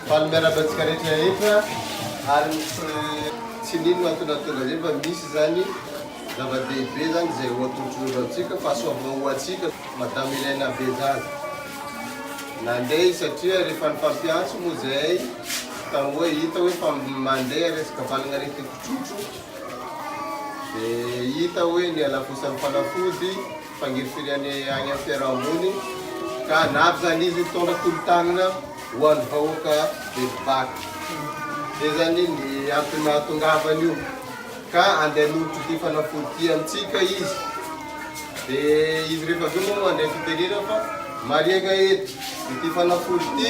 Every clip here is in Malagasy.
Fa ny miarahaba antsika rehetra rehetra ary ny tsy nino no antony nahatonga an'izay fa misy izany zava-dehibe izany izay ho atolotr'olo antsika fa asoavina ho antsika madame Irène Abezaza nandeha izy satria rehefa ny mpampiantso moa izay ka hoe hita hoe fa mandeha resaka valagnaretim-pitrotro dia hita hoe niala-posa ny fanafody fangirifiriany any am fiarahamony ka navy zany izy hitondra tolotanana ho any vahoaka Belovato zay zany ny antony nahatongavany io ka andeha hanolotra ity fanafody ity amintsika izy de izy rehefa avy eo moa mandray fitenenana fa mariaga eto ity fanafody ity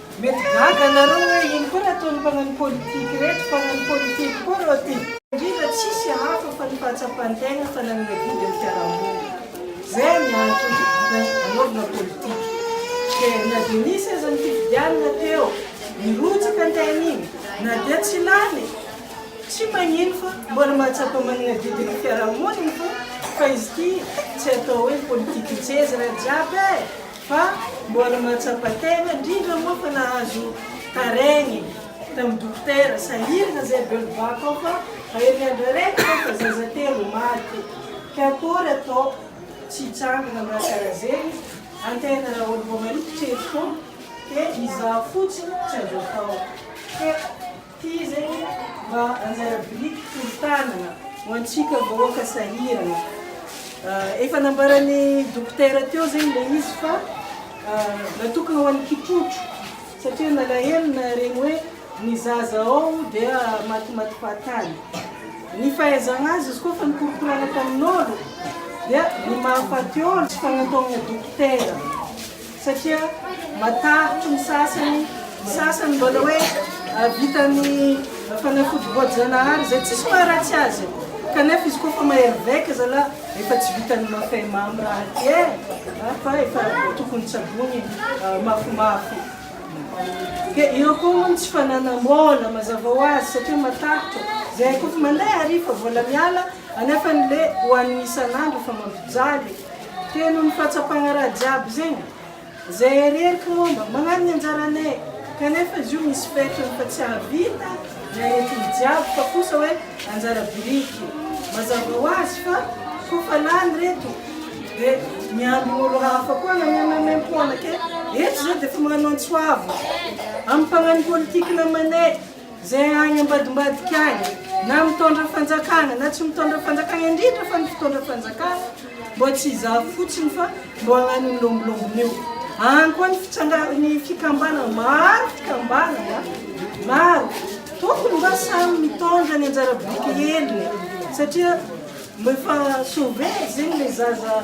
Mety gaga anareo hoe ino koa raha ataon'ny mpanano politique reto mpanano politique koa reo ty. Indrindra tsisy hafa fa ny fahatsapan-tegna fa nanome vody ny fiarahamonina zay ny antony nanaovana politique de na de nisy aza ny fifidianana teo nirotsaka ny tegna igny na dia tsy lany tsy magnino fa mbola mahatsapa managna vody ny fiarahamonina fa izy ty tsy atao hoe politique ntseza raha jiaby e! Fa mbola mahatsapa tena, indrindra moa fa nahazo taregny tamin'ny dokotera, sahirana zay belovac ao fa aery andro araiky zao fa zaza telo maty, ke akory ataoko tsy hitsangana amin'ny raha karaha zegny antena raha olo voa marikitry eto ke izaho fotsiny tsy azo atao ke. Ity zegny mba anjara biriky forontanana ho antsika vahoaka sahirana. Efa nambaran'ny dokotera teo zegny le izy fa natokana ho an'ny kitrotro satria nalahelo naharegny hoe ny zaza ao dia matimaty fahatany. Ny fahaizagna azy izy koa efa nikorokorana tamin'ôlo dia ny mahafaty ôlo tsy fagnantonagna dokotera. satria matahotra ny sasany, ny sasany mbola hoe vitan'ny fanafody voajanahary izay tsisy maharatsy azy kanefa izy koa fa mahery vaika zalah efa tsy vitan'ny mafay mamy raha aty e eh, fa efa tokony tsaboiny mafimafy dia eo koa moa ny tsy fananam-bola mazava ho azy satria matahotra izay koa fa mandeha ary fa vola miala anefany le ho an'ny isan'andro fa mampijaly Teo noho ny fahatsapagna raha jiaby zegny zay areriky mômba, magnano ny anjaranay, kanefa izy io misy fetrany fa tsy ahavita ny aretigny jiaby fa kosa hoe anjara biriky. Mazava ho azy fa kôfa lany reto de miambigny olo hafa koa agnamememem-pôna ke eto zay de efa magnano antsoavo amy mpagnano politique namanay. Izay any ambadimbadika any, na mitondra fanjakana na tsy mitondra fanjakana, indrindra fa ny mpitondra fanjakana, mbô tsy hizaha fotsiny fa mbô hagnano ny lômbolômbony eo. Any koa ny fitsangaran'ny fikambanana, maro fikambanana, maro. Tokony mba samy mitondra ny anjara biriky heliny, satria efa sauver zegny le zaza,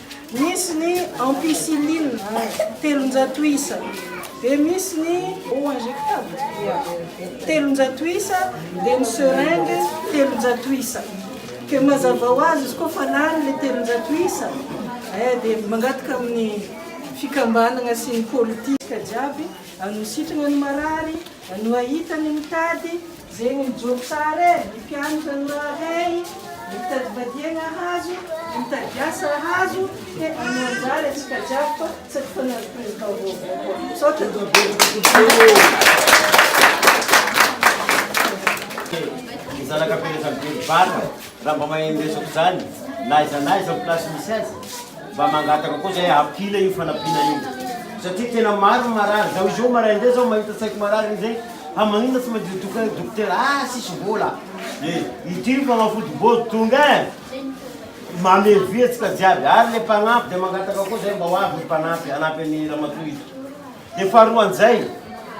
Misy ny ampicilline telonjato isa, dia misy ny eau injectable dia telonjato isa, dia ny seringue telonjato isa. Dia mazava ho azy izy koa fa lany ilay telonjato isa eh dia mangataka amin'ny fikambanana sy ny politika jiaby hanositrana ny marary. Anoa hita ny mitady zegny mijoro tsara e ny mpianatra anoa hey ny mitady vadiagna ahazo ny mitady asa ahazo he anoa anjara atsika jiaby fa tsy ampifanary président vaovao koa misaotra tompoko zanaka mpianatra mividy vary raha mba mahay ny resako zany na aiza na aiza place misy azy Mba mangataka koa zahay apila io fanampiana io satria tena maro ny marary zao izao maraina zay zao mahita saiko marary iny zay fa maninona tsy mandeha doka dokotera ah sisy vola e ity fanafody vozo tonga e mame vihetsika jiaby ary le mpanampy dia mangataka koa zay mba ho avy ny mpanampy hanampy an'i ramatoa ito Dia faharoa an'izay,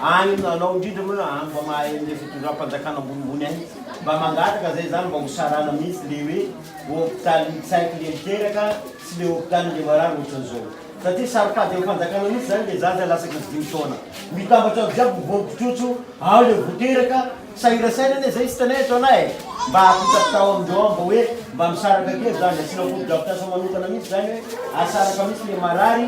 any aminao indrindra moa raha any mba mahay an'ilay fitondram-panjakana ambonimbony any, mba mangataka izay izany mba hosarana mihitsy ilay hoe hopitalin'ny tsaiky ilay miteraka sy ilay hopitalin'ilay marary ohatran'izao. Satria saropady amin'ny fanjakana mihitsy izany ilay zaza lasaka tsy dimy taona. Mitambatra ato jiaby ny voampitrotro, ao ilay vao teraka, sahira saina anie izay sitanay eto anay e! Mba apitapitao amindreo ao mba hoe mba misaraka kely izany, asiana fotodrafitrasa manokana mihitsy izany hoe asaraka mihitsy ilay marary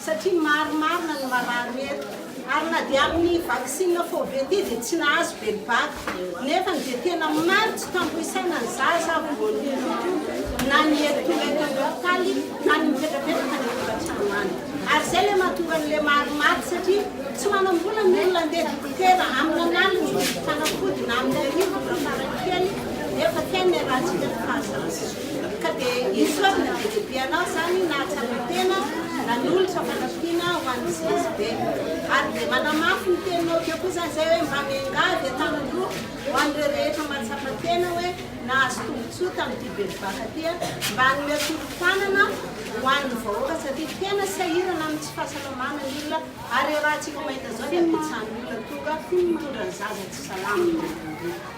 satria maro marina ny marary eto ary na dia amin'ny vaksina fove ity dia tsy nahazo velobaka nefa ny dia tena maro tsy tambo isaina ny zaza ary vao niroto na ny ery tonga eto amin'ny hopitaly na ny mipetrapetraka any an-tokantrano any ary izay ilay mahatonga an'ilay maro maty satria tsy manam-bola ny olona andeha dokotera amina an'aliny hividy fanafody na amin'ny hariva raha farakely nefa tena iarahantsika ny fahazarana Ka dia esory na be dia be anao izany nahatsapa tena nanolotra fanampiana ho an'ny CSB. Ary dia manamafy ny teninao teo koa izany izay hoe mba miangavy an-tanan-droa ho an'ireo rehetra mahatsapa tena hoe nahazo tombontsoa tamin'ity bevohoka ity mba hanome tolo-tanana ho an'ny vahoaka satria tena sahirana amin'ny tsy fahasalamana ny olona ary raha tsika mahita izao dia betsahany olona tonga mitondra ny zaza tsy salama.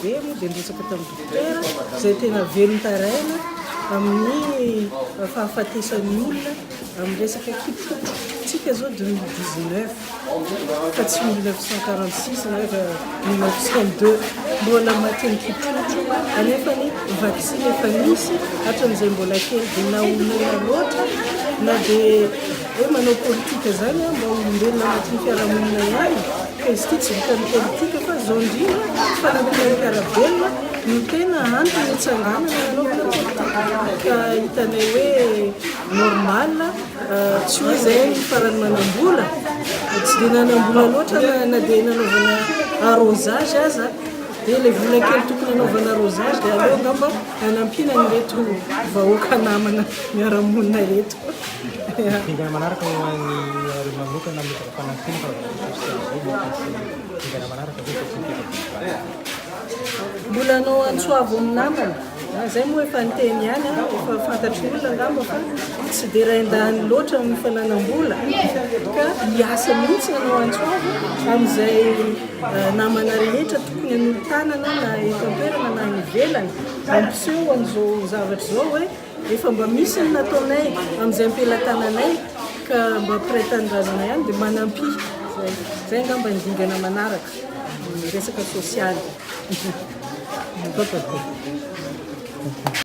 Be moa dia nirotsaka tamin'ny dokotera izay tena velon-taraina amin'ny fahafatesan'ny olona amin'ny resaka kipotra. Tsika izao 2019 fa tsy 1946 na 1902 mbola namatin'ny kipotra anefa ny vaksiny efa nisy hatran'izay mbola kely dia naolana loatra na dia hoe manao politika izany mba olombelona anatin'ny fiarahamonina ihany. Ka izy ity tsy vitan'ny politika fa izao indrindra fanampiana ny mpiara-belona no tena antony nitsanganana nanaovana politika. Ka hitanay hoe normal tsy hoe izay ny farany manam-bola tsy dia nanam-bola loatra na dia nanaovana arrosage aza dia ilay vola kely tokony hanaovana arrosage dia aleo angamba hanampiana an'ireto vahoaka namana miara-monina ireto. Dingana manaraka ho an'ny Harena manokana amin'ny. Mbola anao antsoavo ny namana a! Zay moa efa niteny ihany a! Efa fantatr'ny olona angamba fa tsy dia rain-dahiny loatra ny fananam-bola ka hiasa mihitsy anao antsoavo amin'izay namana rehetra tokony hanolo-tanana na eto an-toerana na any ivelany mampiseho an'izao zavatra izao hoe. Efa mba misy ny nataonay amin'izay am-pelatananay ka mba mpiray tanindrazana ihany dia manampy. Izay. Izay angamba ny dingana manaraka, ny resaka sosialy.